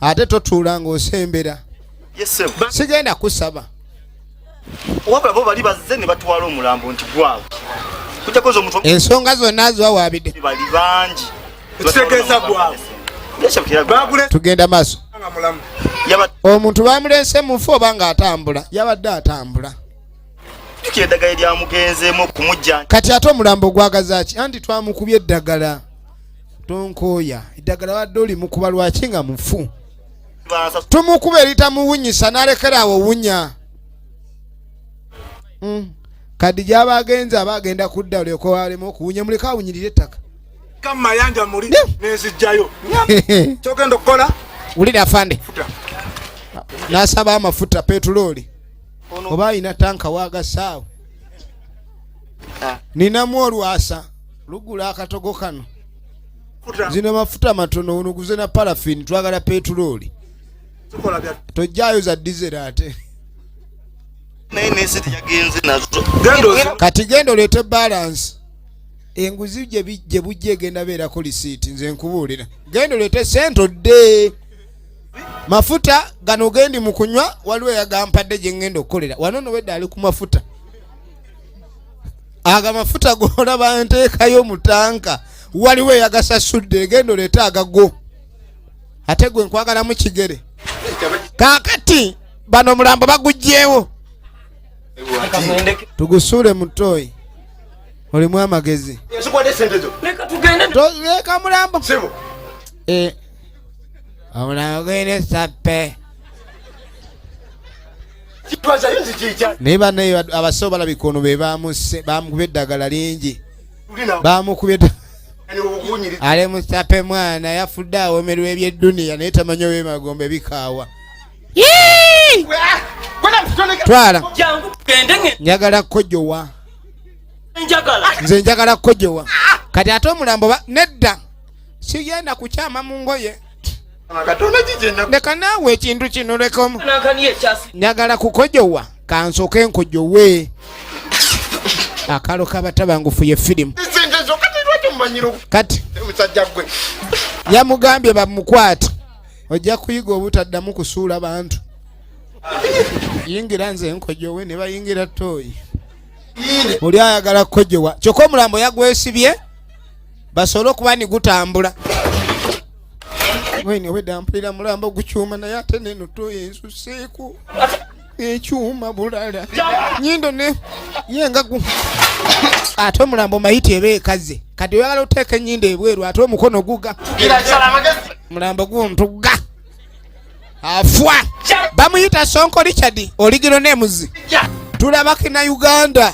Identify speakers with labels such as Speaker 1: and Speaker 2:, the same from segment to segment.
Speaker 1: ate totuula ng'osembera sigenda kusaba
Speaker 2: wabula bo bali bazze ne batwala omulambo nti gwabwe kujakoza omuntu ensonga zonna
Speaker 1: ziwawaabidde bali bangi
Speaker 2: ekitegeeza
Speaker 3: gwabwe
Speaker 1: tugenda maaso omuntu bamulense mufu oba nga atambula yabadde atambula jukira
Speaker 2: eddagala lyamugenzeemu okumujja kati ate omulambo
Speaker 1: gwagazaki anti twamukubye eddagala tonkooya eddagala wadde olimukuba lwaki nga mufu tumukuba eritamuwunyisa nalekera awo wunya hmm. kadi gyaba agenze aba agenda kudda olyoka walema okuwunya muleka awunyirira ettaka kamayanja
Speaker 3: muli nezijjayo kyogenda okukola wulira afande
Speaker 1: nasaba amafuta petulooli oba alina tanka wagasaawo ah. ninamu olwasa lugula akatogo kano zino mafuta matono uno guze na parafini twagala petulooli tojjayo za dizera ate kati genda oleete balansi enguzi gye bujja egenda beerako lisiiti nze nkubuulira genda oleete sente odde mafuta gano gendi mu kunywa waliwo eyagampadde gye ngenda okukolera wano nowedde ali ku mafuta ago amafuta golaba nteekayo mu tanka waliwo eyagasasudde egenda oleete agago ate gwe nkwagalamu kigere kakati bano omulambo bagugyewo tugusuule mutoyi olimu amagezi leka mulambo eh. omulambo gwene sappe naye banaye abasawo balabika ono be bamukuba eddagala lingi bamukuba ali musape mwana yafudde awomerwa ebyedduniya naye tamanyi owemagombe bikaawa twala njagala kukojowa nze njagala kukojowa kati ate omulambo nedda sigenda kukyama mu ngoye leka naawe ekintu kino lekamu njagala kukojowa kansoke nkojowe akalo kabatabangufu ye firimu kati yamugambye bamukwata ojja kuyiga obutaddamu kusuula bantu yingira nze nkojowe ne bayingira tooyi oli ayagala kukojowa kyokka omulambo yagwesibye basobole okuba ni gutambula wene obwedda mpulira mulamba ogukyuma naye ate neno toyensuseeko ekyuma bulala nyindo ne ye nga gu ate omulambo mayiti eba ekaze kati oyagala oteeka enyindo ebweru ate omukono guga mulambo guntuga afwa bamuyita sonko richard oligiro nemuzi tulabaki na uganda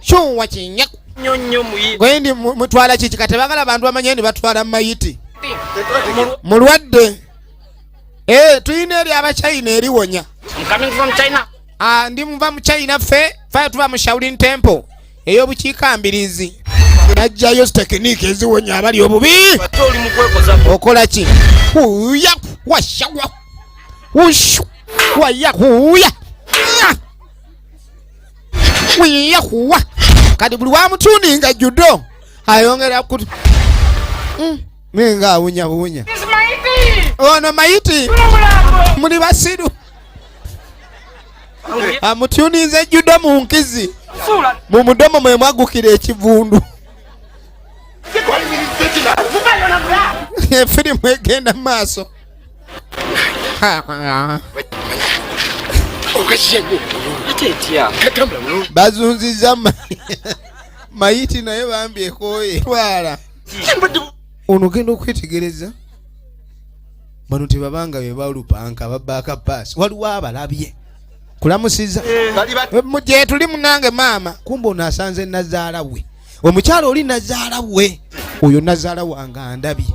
Speaker 1: kyuwa kinyaku gwe ndi mutwala kiki kati bagala abantu bamanye ndi batwala mayiti mulwadde eh, tulina eri abachina eriwonya
Speaker 4: ah, ndi muva mu
Speaker 1: china ffe faya tuva mu shaulin temple eyobukiika mbirizi najjayo tekiniki eziwonya abali obubi
Speaker 4: okola ki
Speaker 1: uyaku washawa ushu wayahuya wiyahuwa kati buli wamutundi nga judo ayongera ku hmm, ninga awunyawunya ono mayiti muli basiru amutuninze judo mu nkizi mu mudomo mwe mwagukira ekivundu efirimu egenda mu maaso bazunziza mayiti naye bambi ekoye twala ono genda okwetegereza bano tebabanga bebalupanka babaaka paasi waliwo abalabye kulamusiza gyetuli munange maama kumba ono asanze nazaala we omukyalo oli nazaala we oyo nazaala wange andabye